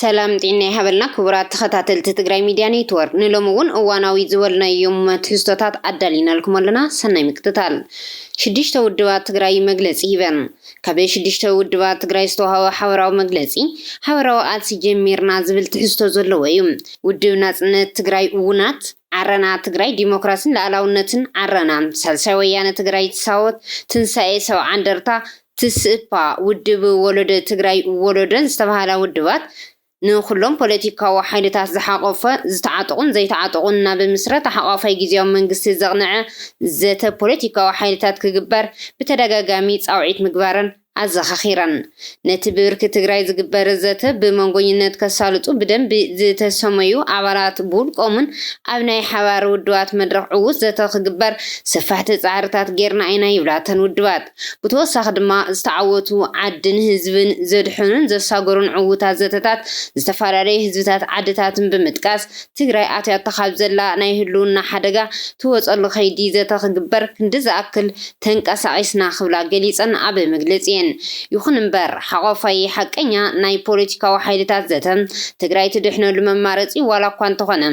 ሰላም ጢና ይሃበልና ክቡራት ተኸታተልቲ ትግራይ ሚድያ ኔትወርክ ንሎሚ እውን እዋናዊ ዝበልናዮም ትህዝቶታት ኣዳሊናልኩም ኣለና ሰናይ ምክትታል። ሽዱሽተ ውድባት ትግራይ መግለፂ ሂበን። ካብ ሽዱሽተ ውድባት ትግራይ ዝተውሃበ ሓበራዊ መግለፂ ሓበራዊ ቃልሲ ጀሚርና ዝብል ትሕዝቶ ዘለዎ እዩ። ውድብ ናፅነት ትግራይ ውናት፣ ዓረና ትግራይ ዲሞክራሲን ልኣላውነትን፣ ዓረና፣ ሳልሳይ ወያነ ትግራይ ሳወት፣ ትንሳኤ ሰብዓ እንደርታ፣ ትስእፓ፣ ውድብ ወለዶ ትግራይ፣ ወለዶን ዝተብሃላ ውድባት ንኹሎም ፖለቲካዊ ሓይልታት ዝሓቖፈ፣ ዝተዓጠቑን ዘይተዓጠቑን ናብ ምስረታ ሓቋፋይ ጊዜያዊ መንግስቲ ዘቕነዐ ዘተ ፖለቲካዊ ሓይልታት ክግበር ብተደጋጋሚ ፃውዒት ምግባረን ኣዘኻኺረን። ነቲ ብብርኪ ትግራይ ዝግበር ዘተ ብመንጎኝነት ከሳልጡ ብደንቢ ዝተሰመዩ ኣባላት ብውልቆምን ኣብ ናይ ሓባር ውድባት መድረኽ ዕዉት ዘተ ክግበር ሰፋሕቲ ፃዕርታት ገይርና ኢና ይብላ እተን ውድባት። ብተወሳኺ ድማ ዝተዓወቱ ዓድን ህዝብን ዘድሐኑን ዘሳገሩን ዕዉታት ዘተታት ዝተፈላለዩ ህዝብታት ዓድታትን ብምጥቃስ ትግራይ ኣትያቶ ካብ ዘላ ናይ ህልውና ሓደጋ ትወፀሉ ከይዲ ዘተ ክግበር ክንዲ ዝኣክል ተንቀሳቂስና ክብላ ገሊፀን ኣብ መግለፂኤን። ይኹን እምበር ሓቆፋይ ሓቀኛ ናይ ፖለቲካዊ ሓይልታት ዘተ ትግራይ ትድሕነሉ መማረፂ ዋላ እኳ እንተኾነ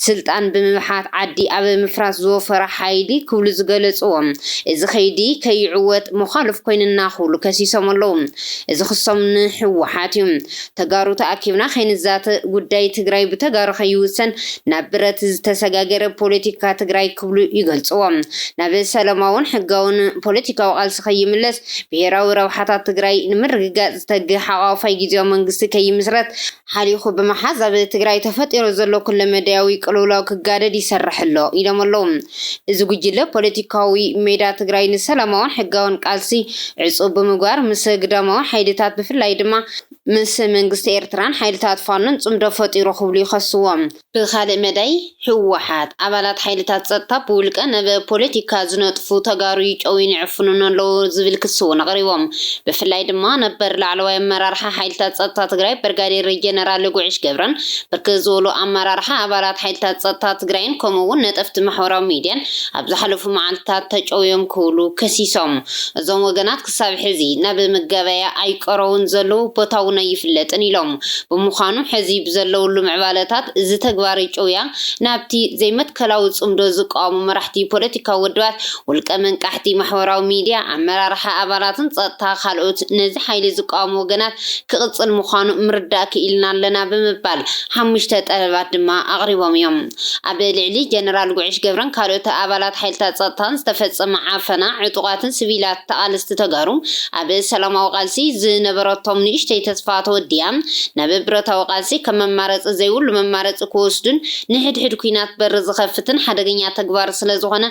ስልጣን ብምብሓት ዓዲ ኣብ ምፍራስ ዝወፈረ ሓይሊ ክብሉ ዝገለፅዎ እዚ ከይዲ ከይዕወት መዃልፍ ኮይንና ክብሉ ከሲሶም ኣለው። እዚ ክሶም ንህወሓት ዩ። ተጋሩ ተኣኪብና ከይንዛተ ጉዳይ ትግራይ ብተጋሩ ከይውሰን ናብ ብረት ዝተሰጋገረ ፖለቲካ ትግራይ ክብሉ ይገልፅዎ። ናብ ሰለማውን ሕጋውን ፖለቲካዊ ቃልሲ ከይምለስ ብሄራዊ ረብሓታት ትግራይ ንምርግጋፅ ዝተግህ ሓቋፋይ ጊዜያዊ መንግስቲ ከይምስረት ሓሊኹ ብምሓዝ ኣብ ትግራይ ተፈጢሩ ዘሎ ኩለመዳያዊ ቅልውላው ክጋደድ ይሰርሕ ኣሎ ኢሎም ኣለው። እዚ ጉጅለ ፖለቲካዊ ሜዳ ትግራይ ንሰላማውን ሕጋውን ቃልሲ ዕፁው ብምግባር ምስ ግዳማዊ ሓይልታት ብፍላይ ድማ ምስ መንግስቲ ኤርትራን ሓይልታት ፋኖን ፅምዶ ፈጢሩ ክብሉ ይኸስዎም። ብኻልእ መዳይ ህወሓት፣ ኣባላት ሓይልታት ፀጥታ ብውልቀ ብ ፖለቲካ ዝነጥፉ ተጋሩ ይጨውዩን ይዕፍኑን ኣለው ዝብል ክሲ እውን ኣቕሪቦም። ብፍላይ ድማ ነበር ላዕለዋይ ኣመራርሓ ሓይልታት ፀጥታ ትግራይ ብርጋዴር ጀነራል ጉዕሽ ገብረን ብርክት ዝበሉ ኣመራርሓ ኣባላት ሓይልታት ፀጥታ ትግራይን ከምኡ እውን ነጠፍቲ ማሕበራዊ ሚድያን ኣብ ዝሓለፉ መዓልትታት ተጨውዮም ክብሉ ከሲሶም። እዞም ወገናት ክሳብ ሕዚ ናብ መጋበያ ኣይቀረቡን ዘለዉ፣ ቦታ እውን ኣይፍለጥን ኢሎም። ብምዃኑ ሕዚ ብዘለውሉ ምዕባለታት እዚ ተግባር ኢጮውያ ናብቲ ዘይመትከላዊ ጽምዶ ዝቃወሙ መራሕቲ ፖለቲካዊ ውድባት፣ ውልቀ መንቃሕቲ ማሕበራዊ ሚድያ፣ ኣመራርሓ ኣባላትን ጸጥታ ካልኦት ነዚ ሓይሊ ዝቃወሙ ወገናት ክቕጽል ምዃኑ ምርዳእ ክኢልና ኣለና ብምባል ሓሙሽተ ጠለባት ድማ ኣቕሪቦም እዮም። ኣብ ልዕሊ ጀነራል ጉዕሽ ገብረን ካልኦት ኣባላት ሓይልታት ጸጥታን ዝተፈጸመ ዓፈና፣ ዕጡቓትን ስቪላት ተቓለስቲ ተጋሩ ኣብ ሰላማዊ ቃልሲ ዝነበረቶም ንእሽተይ ተስፋ ተወዲኣ ናብ ብረታዊ ቃልሲ ከም መማረጺ ዘይብሉ መማረጺ ክወስዱን ንሕድሕድ ኲናት በሪ ዝኸፍትን ሓደገኛ ተግባር ስለዝኾነ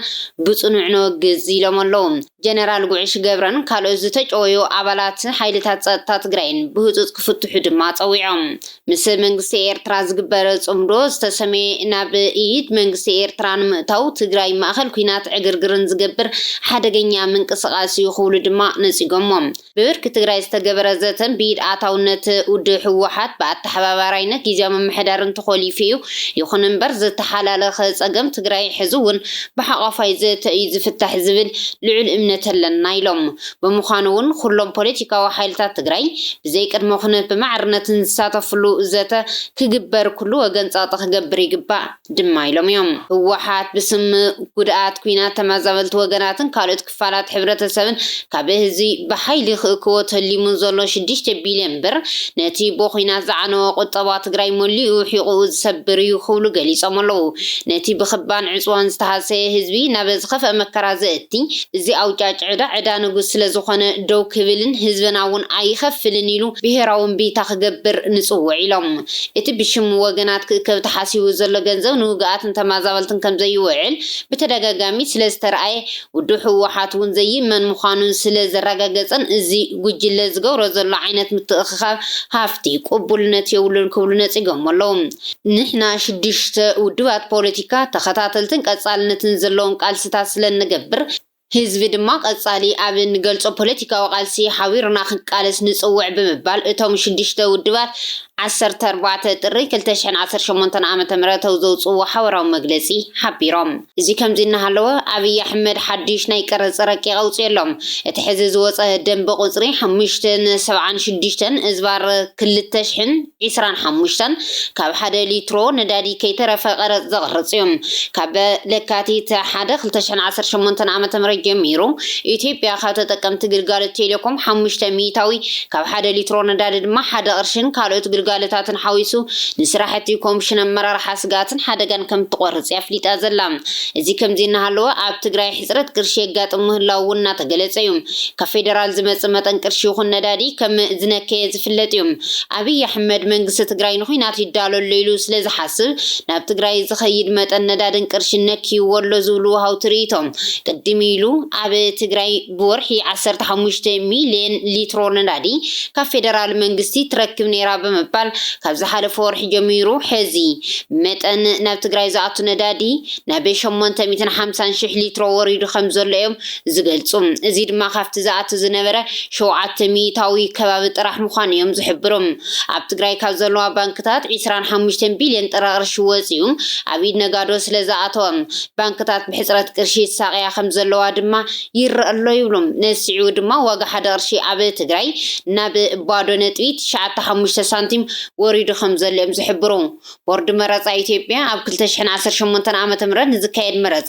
ብጽኑዕ ነወግዝ ኢሎም ኣለዉ። ጀነራል ጉዕሽ ገብረን ካልኦት ዝተጨወዩ ኣባላት ሓይልታት ፀጥታ ትግራይን ብህፁፅ ክፍትሑ ድማ ፀዊዖም። ምስ መንግስቲ ኤርትራ ዝግበር ፅምዶ ዝተሰመየ ናብ ኢድ መንግስቲ ኤርትራ ንምእታው ትግራይ ማእኸል ኲናት ዕግርግርን ዝገብር ሓደገኛ ምንቅስቓስ ዩ ክብሉ ድማ ነፂጎሞ። ብብርኪ ትግራይ ዝተገበረ ዘተን ብኢድ ኣታውነት ውድብ ህወሓት ብኣተሓባባራይነት ጊዚያዊ ምምሕዳርን ተኾሊፉ እዩ። ይኹን እምበር ዝተሓላለኸ ፀገም ትግራይ ሕዚ እውን ብሓቋፋይ ዘተ እዩ ዝፍታሕ ዝብል ልዑል እምነት ኣለና ኢሎም። ብምዃኑ እውን ኹሎም ፖለቲካዊ ሓይልታት ትግራይ ብዘይ ቅድመ ኩነት ብማዕርነት ዝሳተፍሉ ዘተ ክግበር ኩሉ ወገን ፀቕጢ ክገብር ይግባእ ድማ ኢሎም እዮም። ህወሓት ብስም ጉድኣት ኲናት ተመዛበልቲ ወገናትን ካልኦት ክፋላት ሕብረተሰብን ካብ እዚ ብሓይሊ ክእክቦ ተሊሙ ዘሎ ሽዱሽተ ቢልዮን ብር ነቲ ብኹናት ዝዓነወ ቁጠባ ትግራይ መሊኡ ሒቑኡ ዝሰብር እዩ ክብሉ ገሊፆም ኣለው። ነቲ ብክባን ዕፅዋን ዝተሃሰየ ህዝቢ ናብ ዝኸፍኣ መከራ ዘእቲ እዚ ኣውጫጭ ዕዳ ዕዳ ንጉስ ስለዝኾነ ደው ክብልን ህዝብና እውን ኣይኸፍልን ኢሉ ብሄራዊ እምቢታ ክገብር ንፅውዕ ኢሎም። እቲ ብሽም ወገናት ክእከብ ተሓሲቡ ዘሎ ገንዘብ ንውግኣትን ተማዛበልትን ከምዘይውዕል ብተደጋጋሚ ስለዝተርኣየ ውድብ ህወሓት እውን ዘይእመን ምዃኑን ስለ ዘረጋገፀን እዚ ጉጅለ ዝገብሮ ዘሎ ዓይነት ምትእኽኻብ ሃፍቲ ቅቡልነት የብሉን ክብሉ ነፂጎሞ ኣለው። ንሕና ሽዱሽተ ውድባት ፖለቲካ ተኸታተልትን ቀፃልነትን ዘለዎም ቃልሲታት ስለ እንገብር፣ ህዝቢ ድማ ቀፃሊ ኣብ እንገልፆ ፖለቲካዊ ቃልሲ ሓቢሩና ክንቃለስ ንፅውዕ ብምባል እቶም ሽዱሽተ ውድባት ዓሰርተ ኣርባዕተ ጥሪ ክልተ ሽሕን ዓሰርተ ሸሞንተን ዓ.ም ኣብ ዘውፅእዎ ሓበራዊ መግለፂ ሓቢሮም። እዚ ከምዚ እናሃለወ ኣብይ ኣሕመድ ሓዱሽ ናይ ቀረፅ ረቂቕ ኣውፂኡ ኣሎ። እቲ ሕዚ ዝወፀ ደንቢ ቁፅሪ ሓሙሽተ ን ሰብዓን ሽዱሽተን እዝባር ክልተ ሽሕን ዒስራን ሓሙሽተን ካብ ሓደ ሊትሮ ነዳዲ ከይተረፈ ቀረፅ ዘቕርፅ እዩ። ካብ ለካቲት ሓደ ክልተ ሽሕን ዓሰርተ ሸሞንተን ዓመተ ምህረት ጀሚሩ ኢትዮጵያ ካብ ተጠቀምቲ ግልጋሎት ቴሌኮም ሓሙሽተ ሚኢታዊ ካብ ሓደ ሊትሮ ነዳዲ ድማ ሓደ ቅርሽን ካልኦት ግልጋሎታትን ሓዊሱ ንስራሕቲ ኮምሽን ኣመራርሓ ስግኣትን ሓደጋን ከምትቖርጽ እያ ኣፍሊጣ ዘላ። እዚ ከምዚ እናሃለወ ኣብ ትግራይ ሕጽረት ቅርሺ የጋጥም ምህላዉ እውን እናተገለጸ እዩ። ካብ ፌደራል ዝመጽእ መጠን ቅርሺ ይኹን ነዳዲ ከም ዝነከየ ዝፍለጥ እዩ። ኣብይ ኣሕመድ መንግስቲ ትግራይ ንዂናት ይዳሎ ኣሎ ኢሉ ስለ ዝሓስብ ናብ ትግራይ ዝኸይድ መጠን ነዳድን ቅርሽን ነክይዎ ኣሎ ዝብሉ ወሃውቲ ርእይቶ ቅድም ኢሉ ኣብ ትግራይ ብወርሒ ዓሰርተ ሓሙሽተ ሚልየን ሊትሮ ነዳዲ ካብ ፌደራል መንግስቲ ትረክብ ነይራ ብምባል ካብ ዝሓለፈ ወርሒ ጀሚሩ ሕዚ መጠን ናብ ትግራይ ዝኣቱ ነዳዲ ናብ ሸሞንተ ሚእትን ሓምሳን ሽሕ ሊትሮ ወሪዱ ከምዘሎ እዮም ዝገልፁ። እዚ ድማ ካብቲ ዝኣቱ ዝነበረ ሸውዓተ ሚኢታዊ ከባቢ ጥራሕ ምዃኑ እዮም ዝሕብሩ። ኣብ ትግራይ ካብ ዘለዋ ባንክታት ዕስራን ሓሙሽተን ቢልየን ጥረ ቅርሺ ወፂኡ ኣብ ኢድ ነጋዶ ስለዝኣተወ ባንክታት ብሕፅረት ቅርሺ ይሳቐያ ከምዘለዋ ድማ ይረኣ ኣሎ ይብሉ። ንስዒቡ ድማ ዋጋ ሓደ ቅርሺ ኣብ ትግራይ ናብ ባዶ ነጥቢ ትሽዓተ ሓሙሽተ ሳንቲም ወሪዱ ከምዘሎ እዮም ዝሕብሩ። ቦርድ መረፃ ኢትዮጵያ ኣብ ክልተ ሽሕን ዓሰርተ ሸሞንተን ዓመተ ምህረት ንዝካየድ መረፃ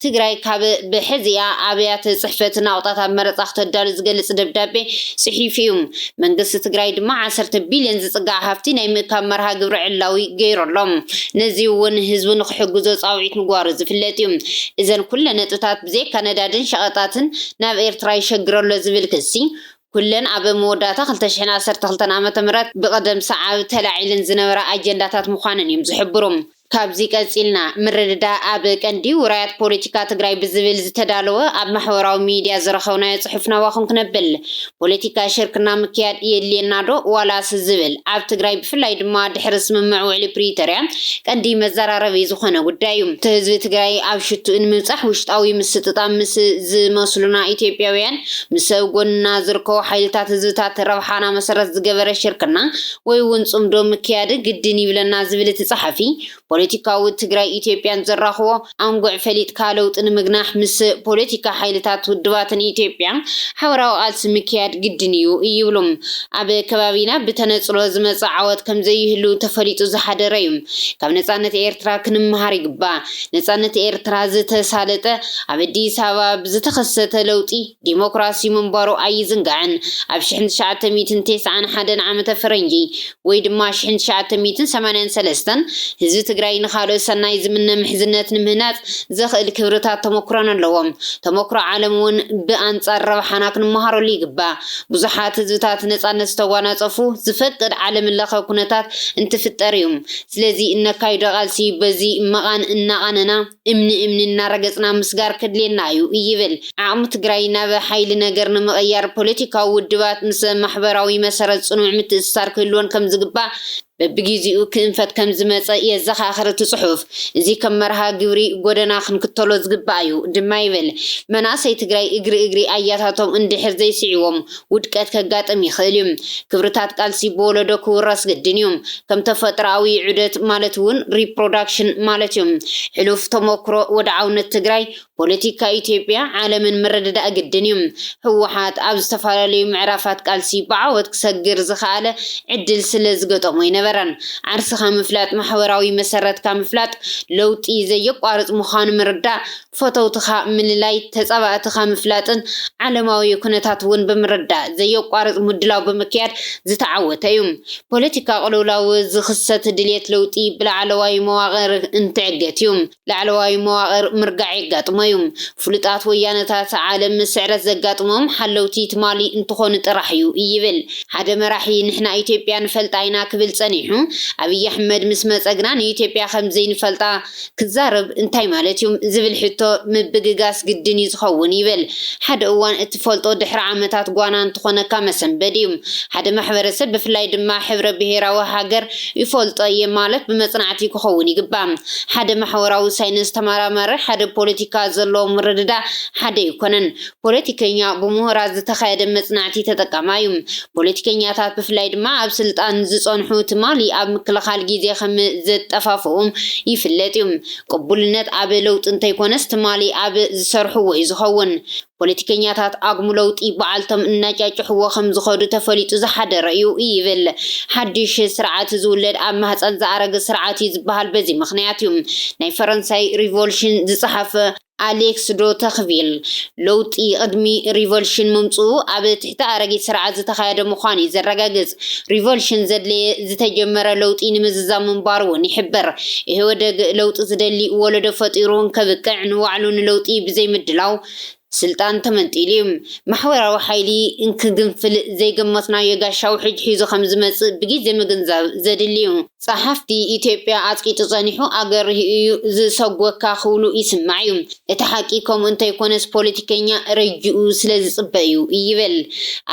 ትግራይ ካብ ብሐዚኣ ኣብያተ ፅሕፈት ናቑጣታት መረፃ ክተዳሉ ዝገልፅ ደብዳቤ ፅሒፉ እዩ። መንግስቲ ትግራይ ድማ ዓሰርተ ቢልዮን ዝፅጋዕ ሃፍቲ ናይ ምእካብ መርሃ ግብሪ ዕላዊ ገይሩ ኣሎ። ነዚ እውን ህዝቡ ንክሕግዞ ፃውዒት ምግባሩ ዝፍለጥ እዩ። እዘን ኩለን ነጥብታት። ብዘይካ ነዳድን ሸቐጣትን ናብ ኤርትራ ይሸግር'ሎ ዝብል ክሲ፣ ኩለን ኣብ መወዳእታ ክልተ ሽሕን ዓሰርተ ክልተን ዓመተ ምህረት ብቐደም ሰዓብ ተላዒለን ዝነበራ ኣጀንዳታት ምዃነን እዮም ዝሕብሩ። ካብዚ ቀጺልና፣ ምርድዳእ ኣብ ቀንዲ ውራያት ፖለቲካ ትግራይ ብዝብል ዝተዳለወ ኣብ ማሕበራዊ ሚድያ ዝረኸብናዮ ጽሑፍ ናባኹም ክነብል። ፖለቲካዊ ሽርክና ምክያድ የድልየና ዶ ዋላስ ዝብል ኣብ ትግራይ ብፍላይ ድማ ድሕሪ ስምምዕ ውዕሊ ፕሪቶርያ ቀንዲ መዘራረቢ ዝኾነ ጉዳይ እዩ። እቲ ህዝቢ ትግራይ ኣብ ሽትኡ ንምብፃሕ ውሽጣዊ ምስጥጣም ምስ ዝመስሉና ኢትዮጵያውያን ምስ ኣብ ጎንና ዝርከቡ ሓይልታት ህዝብታት ረብሓና መሰረት ዝገበረ ሽርክና ወይ እውን ፅምዶ ምክያድ ግድን ይብለና ዝብል እቲ ፀሓፊ ፖለቲካዊ ትግራይ ኢትዮጵያን ዘራኽቦ ኣንጉዕ ፈሊጥካ ለውጢ ንምግናሕ ምስ ፖለቲካ ሓይልታት ውድባትን ኢትዮጵያ ሓበራዊ ቃልሲ ምክያድ ግድን ኢዩ ይብሉ። ኣብ ከባቢና ብተነጽሎ ዝመጸ ዓወት ከምዘይህሉ ተፈሊጡ ዝሓደረ ኢዩ። ካብ ነጻነት ኤርትራ ክንመሃር ይግባእ። ነጻነት ኤርትራ ዝተሳለጠ ኣብ ኣዲስ ኣበባ ብዝተኸሰተ ለውጢ ዲሞክራሲ ምንባሩ ኣይዝንጋዕን። ኣብ ሽሕን ትሽዓተ ሚእትን ቴስዓን ሓደን ዓመተ ፈረንጂ ወይ ድማ ሽሕን ትሽዓተ ሚእትን ሰማንያን ሰለስተን ህዝቢ ትግራይ ንኻልኦት ሰናይ ዝምነ ምሕዝነት ንምህናፅ ዘኽእል ክብርታት ተሞክሮን ኣለዎ። ተሞክሮ ዓለም እውን ብኣንፃር ረብሓና ክንመሃረሉ ይግባእ። ብዙሓት ህዝብታት ነፃነት ዝተጓናፀፉ ዝፈቅድ ዓለምለኸ ኩነታት እንትፍጠር እዩ። ስለዚ እነካይዶ ቃልሲ በዚ መቓን እናቓነና፣ እምኒ እምኒ እናረገፅና ምስጋር ከድልየና እዩ ይብል። ዓቕሚ ትግራይ ናብ ሓይሊ ነገር ንምቕያር ፖለቲካዊ ውድባት ምስ ማሕበራዊ መሰረት ፅኑዕ ምትእስሳር ክህልወን ከምዝግባእ በቢጊዚኡ ክእንፈት ከምዝመፀ የዘኻኽር እቲ ፅሑፍ። እዚ ከም መርሃ ግብሪ ጎደና ክንክተሎ ዝግባእ እዩ ድማ ይብል። መናእሰይ ትግራይ እግሪ እግሪ ኣያታቶም እንድሕር ዘይስዒቦም ውድቀት ከጋጥም ይኽእል እዩ። ክብርታት ቃልሲ ብወለዶ ክውረስ ግድን እዩ። ከም ተፈጥሮኣዊ ዑደት ማለት እውን ሪፕሮዳክሽን ማለት እዩ። ሕሉፍ ተሞክሮ ወድዓውነት ትግራይ፣ ፖለቲካ ኢትዮጵያ፣ ዓለምን ምርድዳእ ግድን እዩ። ህወሓት ኣብ ዝተፈላለዩ ምዕራፋት ቃልሲ ብዓወት ክሰግር ዝኸኣለ ዕድል ስለ ዝገጠሞ ኣይነበረን። ዓርስኻ ምፍላጥ ማሕበራዊ መሰረትካ ምፍላጥ ለውጢ ዘየቋርፅ ምዃኑ ምርዳእ ፈተውትኻ ምልላይ፣ ተጻባእትኻ ምፍላጥን ዓለማዊ ኩነታት እውን ብምርዳእ ዘየቋርጽ ምድላው ብምክያድ ዝተዓወተ እዩ። ፖለቲካ ቅልውላው ዝኽሰት ድልየት ለውጢ ብላዕለዋይ መዋቕር እንትዕገት እዩ። ላዕለዋይ መዋቕር ምርጋዕ የጋጥሞ እዩ። ፍሉጣት ወያነታት ዓለም ስዕረት ዘጋጥሞም ሓለውቲ ትማሊ እንትኾኑ ጥራሕ እዩ ይብል ሓደ መራሒ ንሕና ኢትዮጵያ ንፈልጣ ኢና ክብል ጸኒሑ። ኣብይ ኣሕመድ ምስ መጸ ግና ንኢትዮጵያ ከምዘይንፈልጣ ክዛረብ እንታይ ማለት እዩ? ዝብል ሕቶ ምብግጋስ ግድን እዩ ዝኸውን ይብል። ሓደ እዋን እትፈልጦ ድሕሪ ዓመታት ጓና እንትኾነካ መሰንበዲ እዩ። ሓደ ማሕበረሰብ ብፍላይ ድማ ሕብረ ብሄራዊ ሃገር ይፈልጦ እየ ማለት ብመፅናዕቲ ክኸውን ይግባእ። ሓደ ማሕወራዊ ሳይንስ ተመራማሪ ሓደ ፖለቲካ ዘለዎ ምርድዳእ ሓደ ኣይኮነን። ፖለቲከኛ ብሙሁራት ዝተኻየደ መፅናዕቲ ተጠቃማ እዩ። ፖለቲከኛታት ብፍላይ ድማ ኣብ ስልጣን ዝፀንሑ ትማሊ ኣብ ምክልኻል ጊዜ ከም ዘጠፋፍኡ ይፍለጥ እዩ። ቅቡልነት ኣብ ለውጢ እንተይኮነስ ትማሊ ኣብ ዝሰርሕዎ እዩ ዝኸውን። ፖለቲከኛታት ኣጉም ለውጢ ባዓልቶም እናጫጭሕዎ ከም ዝኸዱ ተፈሊጡ ዝሓደረ እዩ ይብል። ሓዱሽ ስርዓት ዝውለድ ኣብ ማህፀን ዝኣረገ ስርዓት እዩ ዝበሃል በዚ ምኽንያት እዩ። ናይ ፈረንሳይ ሪቮልሽን ዝፀሓፈ ኣሌክስ ዶ ተክቪል፣ ለውጢ ቅድሚ ሪቮልሽን ምምጽኡ ኣብ ትሕቲ ኣረጊት ስርዓት ዝተኻየደ ምዃኑ እዩ ዘረጋግጽ። ሪቮልሽን ዘድለየ ዝተጀመረ ለውጢ ንምዝዛም ምንባሩ እውን ይሕብር። ኢህወደግ ለውጢ ዝደሊ ወለዶ ፈጢሩ እንከብቅዕ ንባዕሉ ንለውጢ ብዘይምድላው ስልጣን ተመንጢሉ እዩ። ማሕበራዊ ሓይሊ እንክግንፍል ዘይገመትናዮ ጋሻ ውሕጅ ሒዙ ከምዝመጽእ ብጊዜ ምግንዛብ ዘድሊ እዩ። ጸሓፍቲ ኢትዮጵያ ኣጽቂጡ ጸኒሑ ኣገርሂ እዩ ዝሰጎካ ክብሉ ይስማዕ እዩ። እቲ ሓቂ ከምኡ እንተይኮነስ ፖለቲከኛ ረጅኡ ስለዝጽበ እዩ ይበል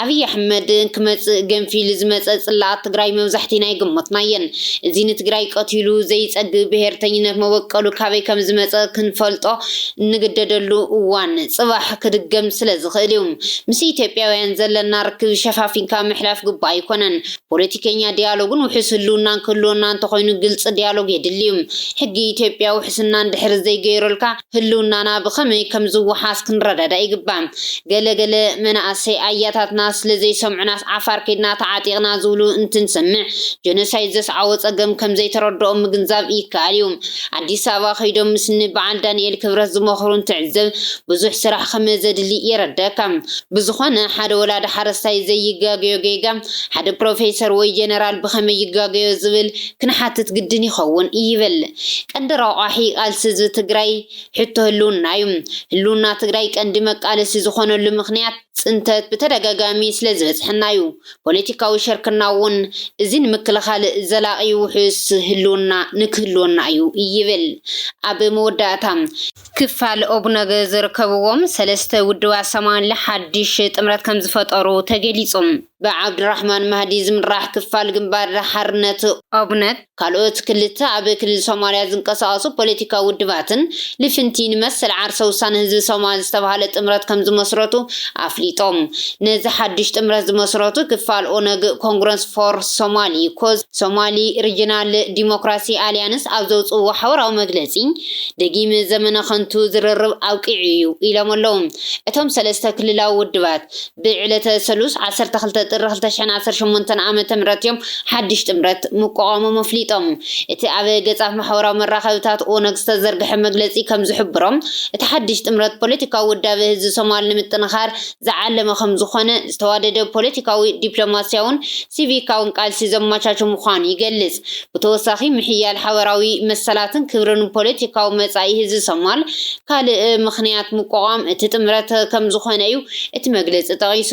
ኣብይ ኣሕመድ ክመጽእ ገንፊሉ ዝመጸ ጽላኣት ትግራይ መብዛሕቲና ኣይገመትናዮን። እዚ ንትግራይ ቀቲሉ ዘይጸግብ ብሄርተኝነት መበቀሉ ካበይ ከምዝመጸ ክንፈልጦ እንግደደሉ እዋን ጽባሕ ክድገም ስለዝኽእል እዩ። ምስ ኢትዮጵያውያን ዘለና ርክብ ሸፋፊንካ ምሕላፍ ግቡእ ኣይኮነን። ፖለቲከኛ ዲያሎግን ውሑስ ህልውናን ክህልወና እንተኾይኑ ግልፂ ዲያሎግ የድሊ ዩ። ሕጊ ኢትዮጵያ ውሕስና እንድሕር ዘይገይሩልካ ህልውናና ብኸመይ ከምዝወሓስ ክንረዳዳእ ይግባእ። ገለ ገለ መናእሰይ ኣያታትና ስለዘይሰምዑናስ ዓፋር ከይድና ተዓጢቕና ዝብሉ እንትንሰምዕ ጆኖሳይድ ዘስዓቦ ፀገም ከምዘይተረድኦም ምግንዛብ ይከኣል ዩ። ኣዲስ ኣበባ ከይዶም ምስ ን በዓል ዳኒኤል ክብረት ዝመኽሩ እንትዕዘብ ብዙሕ ስራሕ ከመዘድሊ የረደኣካ። ብዝኾነ ሓደ ወላዲ ሓረስታይ ዘይጋገዮ ጌጋ ሓደ ፕሮፌሰር ወይ ጀነራል ብኸመይ ይጋገዮ ዝብል ክንሓትት ግድን ይኸውን ይብል ቀንዲ ረቋሒ ቃልሲ ህዝቢ ትግራይ ሕቶ ህልውና ዩ። ህልውና ትግራይ ቀንዲ መቃለሲ ዝኾነሉ ምኽንያት ፅንተት ብተደጋጋሚ ስለዝበፅሐና ዩ። ፖለቲካዊ ሽርክና ውን እዚ ንምክልኻል ዘላቒ ውሑስ ህልውና ንክህልወና ዩ ይብል። ኣብ መወዳእታ። ክፋል ኦብነግ ዝርከብዎም ሰለስተ ውድባት ሰማንለ ሓድሽ ጥምረት ከምዝፈጠሩ ተገሊፁ። ብዓብዱራሕማን ማህዲ ዝምራሕ ክፋል ግንባር ሓርነት ኦብነግ ካልኦት ክልተ ኣብ ክልል ሶማሊያ ዝንቀሳቐሱ ፖለቲካዊ ውድባትን ልፍንቲ ንመሰል ዓርሰ ውሳነ ህዝቢ ሶማል ዝተብሃለ ጥምረት ከምዝመስረቱ ኣፍሊጦም። ነዚ ሓድሽ ጥምረት ዝመስረቱ ክፋል ኦነግ ኮንግረስ ፎር ሶማሊ፣ ኮዝ፣ ሶማሊ ሪጅናል ዲሞክራሲ ኣሊያንስ ኣብ ዘውፅእዎ ሓበራዊ መግለፂ፣ ደጊም ዘመነ ከንቱ ዝርርብ ኣብቂዑ እዩ ኢሎም ኣለው። እቶም ሰለስተ ክልላዊ ውድባት ብዕለተ ሰሉስ ዓሰርተ ክልተ ጥሪ ክልተ ሽሕን ዓሰርተ ሸሞንተን ዓመተ ምህረት እዮም ሓድሽ ጥምረት ምቋቋሞም ኣፍሊጦም። እቲ ኣብ ገፃት ማሕበራዊ መራኸብታት ኦነግ ዝተዘርግሐ መግለፂ ከምዝሕብሮ እቲ ሓድሽ ጥምረት ፖለቲካዊ ውዳበ ህዝቢ ሶማል ንምጥንኻር ዝዓለመ ከምዝኾነ ዝተዋደደ ፖለቲካዊ፣ ዲፕሎማሲያውን ሲቪካውን ቃልሲ ዘመቻቹ ምዃኑ ይገልፅ። ብተወሳኺ ምሕያል ሓበራዊ መሰላትን ክብርን ፖለቲካዊ መጻኢ ህዝቢ ሶማል ካልእ ምኽንያት ምቋቋም እቲ ጥምረት ከም ዝኾነ እዩ እቲ መግለጺ ጠቒሱ።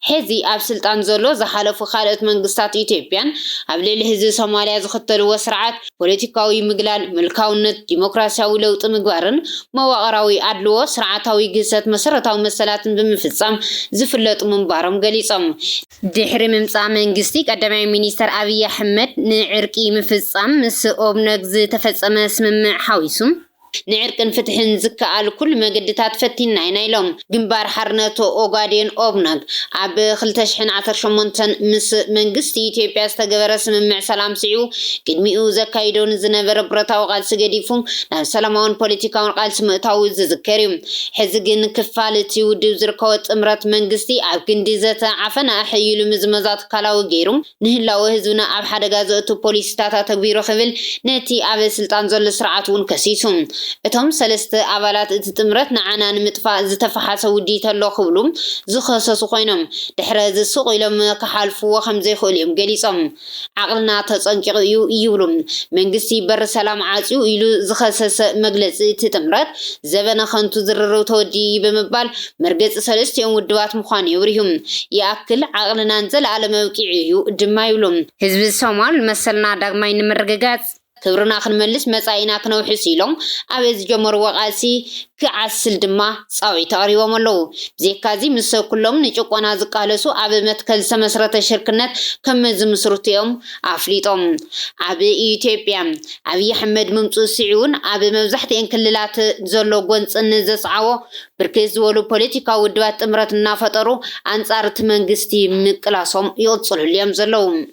ሐዚ ኣብ ስልጣን ዘሎ ዝሓለፉ ካልኦት መንግስታት ኢትዮጵያን ኣብ ልዕሊ ህዝቢ ሶማልያ ዝኽተልዎ ስርዓት ፖለቲካዊ ምግላል፣ ምልካውነት፣ ዲሞክራሲያዊ ለውጢ ምግባርን መዋቕራዊ ኣድልዎ፣ ስርዓታዊ ግህሰት መሰረታዊ መሰላትን ብምፍጻም ዝፍለጡ ምንባሮም ገሊጾም። ድሕሪ ምምጻእ መንግስቲ ቀዳማይ ሚኒስተር ኣብይ ኣሕመድ፣ ንዕርቂ ምፍጻም ምስ ኦብነግ ዝተፈጸመ ስምምዕ ሓዊሱ፣ ንዕርቅን ፍትሕን ዝከኣል ኩሉ መገዲታት ፈቲንና ኢና ኢሎም። ግንባር ሓርነት ኦጋዴን፣ ኦብነግ፣ ኣብ ክልተ ሽሕን ዓሰርተ ሸሞንተን ምስ መንግስቲ ኢትዮጵያ ዝተገበረ ስምምዕ ሰላም ስዒቡ፣ ቅድሚኡ ዘካይዶ ንዝነበረ ብረታዊ ቃልሲ ገዲፉ ናብ ሰላማውን ፖለቲካውን ቃልሲ ምእታዉ ዝዝከር እዩ። ሕዚ ግን ክፋል እቲ ውድብ ዝርከቦ ጥምረት መንግስቲ ኣብ ክንዲ ዘተ ዓፈና ኣሐይሉ ምዝመዛ ትካላዊ ገይሩ ንህላወ ህዝብና ኣብ ሓደጋ ዘእቱ ፖሊሲታት ኣተግቢሩ ክብል ነቲ ኣብ ስልጣን ዘሎ ስርዓት እውን ከሲሱ። እቶም ሰለስተ ኣባላት እቲ ጥምረት ንዓና ንምጥፋእ ዝተፈሓሰ ውዲት ኣሎ ክብሉ ዝኸሰሱ ኮይኖም ድሕረዚ ሱቕ ኢሎም ክሓልፍዎ ከምዘይክእሉ እዮም ገሊፆም። ዓቕልና ተጸንቂቑ እዩ ይብሉ። መንግስቲ በሪ ሰላም ዓጽዩ ኢሉ ዝኸሰሰ መግለጺ እቲ ጥምረት፣ ዘበነ ከንቱ ዝርርብ ተወዲኡ'ዩ ብምባል፣ መርገጺ ሰለስቲኦም ውድባት ምዃኑ የብርሁ። ይኣክል ዓቕልናን ዘለኣለም ኣብቂዑ እዩ ድማ ይብሉ። ህዝቢ ሶማል መሰልና ዳግማይ ንምርግጋጽ፣ ክብርና ክንመልስ መጻኢና ክነውሕስ ኢሎም ኣብ ዝጀመርዎ ቃልሲ ክዓስል ድማ ጻውዒት ኣቕሪቦም ኣለዉ። ብዜካዚ ምስ ኩሎም ንጭቆና ዝቃለሱ ኣብ መትከል ዝተመስረተ ሽርክነት ከምዝምስርቱ'ዮም ኣፍሊጦም። ኣብ ኢትዮጵያ ኣብይ ኣሕመድ ምምጽኡ ስዒቡን ኣብ መብዛሕትኤን ክልላት ዘሎ ጎንጺ ንዘስዓቦ ብርክት ዝበሉ ፖለቲካዊ ውድባት ጥምረት እናፈጠሩ ኣንጻር'ቲ መንግስቲ ምቅላሶም ይቕጽልሉ'ዮም ዘለዉ።